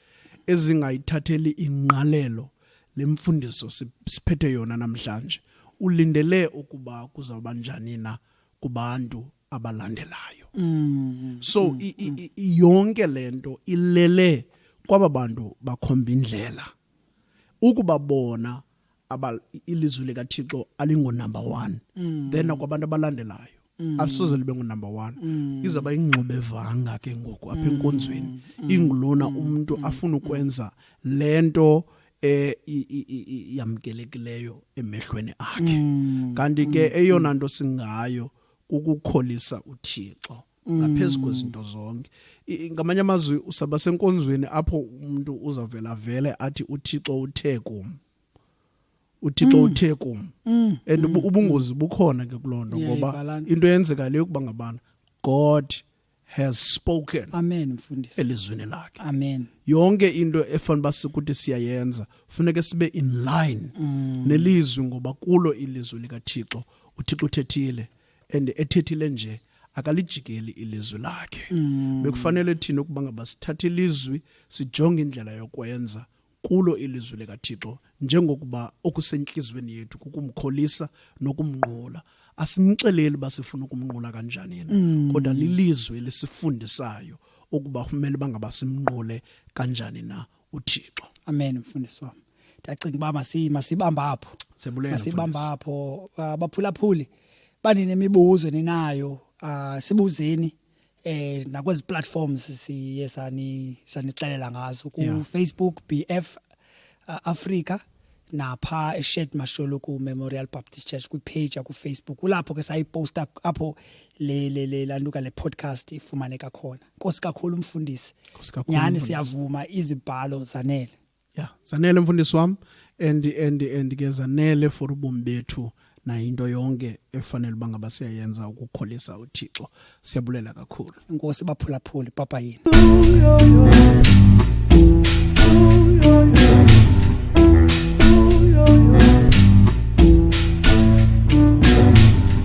ezingayithatheli ingqalelo lemfundiso siphethe yona namhlanje ulindele ukuba kuzawuba njani na kubantu abalandelayo mm. so mm. I, I, mm. I, yonke le nto ilele kwaba bantu bakhomba indlela ukuba bona aba ilizwi likathixo alingonumber one mm. then akwabantu abalandelayo mm. asoze libe ngunumber one mm. izawuba yingxubevanga ke ngoku apha mm. enkonzweni mm. ingulona mm. umntu mm. afuna ukwenza le nto eh yamkelekileyo emehlweni akhe mm. kanti ke mm. eyona nto singayo mm. kukukholisa uthixo ngaphezu mm. kwezinto zonke ngamanye amazwi usaba senkonzweni apho umuntu uzavela vele athi uthixo uthe kum uthixo mm. uthe kum mm. and ubungozi bukhona ke kuloo nto ngoba into eyenzeka leyo ukuba ngabana god has spoken amen mfundisi elizwini lakhe amen yonke into efanele basikuthi siyayenza kufuneka sibe in line mm. nelizwi ngoba kulo ilizwi likaThixo uThixo uthethile and ethethile nje akalijikeli ilizwi lakhe mm. bekufanele thina ukuba ngabasithathe ilizwi sijonge indlela yokwenza kulo ilizwi likaThixo njengokuba okusentliziyweni yethu kukumkholisa nokumnqula asimxeleli uba sifuna ukumnqula kanjani na mm. kodwa lilizwi lisifundisayo ukuba kumele bangaba simnqule kanjani na uThixo amen mfundisi wami ndiyacinga uba masibamba apho masibamba apho ah, baphulaphuli banenemibuzo ninayo ah, sibuzeni eh nakwezi platforms siye sani sanixelela ngazo ku yeah. Facebook BF uh, Africa napha eShed Masholo ku Memorial Baptist Church kwi page ku Facebook kulapho ke sayiposta apho le le le landuka le podcast ifumaneka khona Nkosi kakhulu umfundisi Nkosi kakhulu nyani siyavuma izibhalo zanele ya zanele mfundisi wam and and and ke zanele for ubomi bethu nayo into yonke efanele uba ngaba siyayenza ukukholisa uthixo siyabulela kakhulu inkosi baphulaphuli papa yini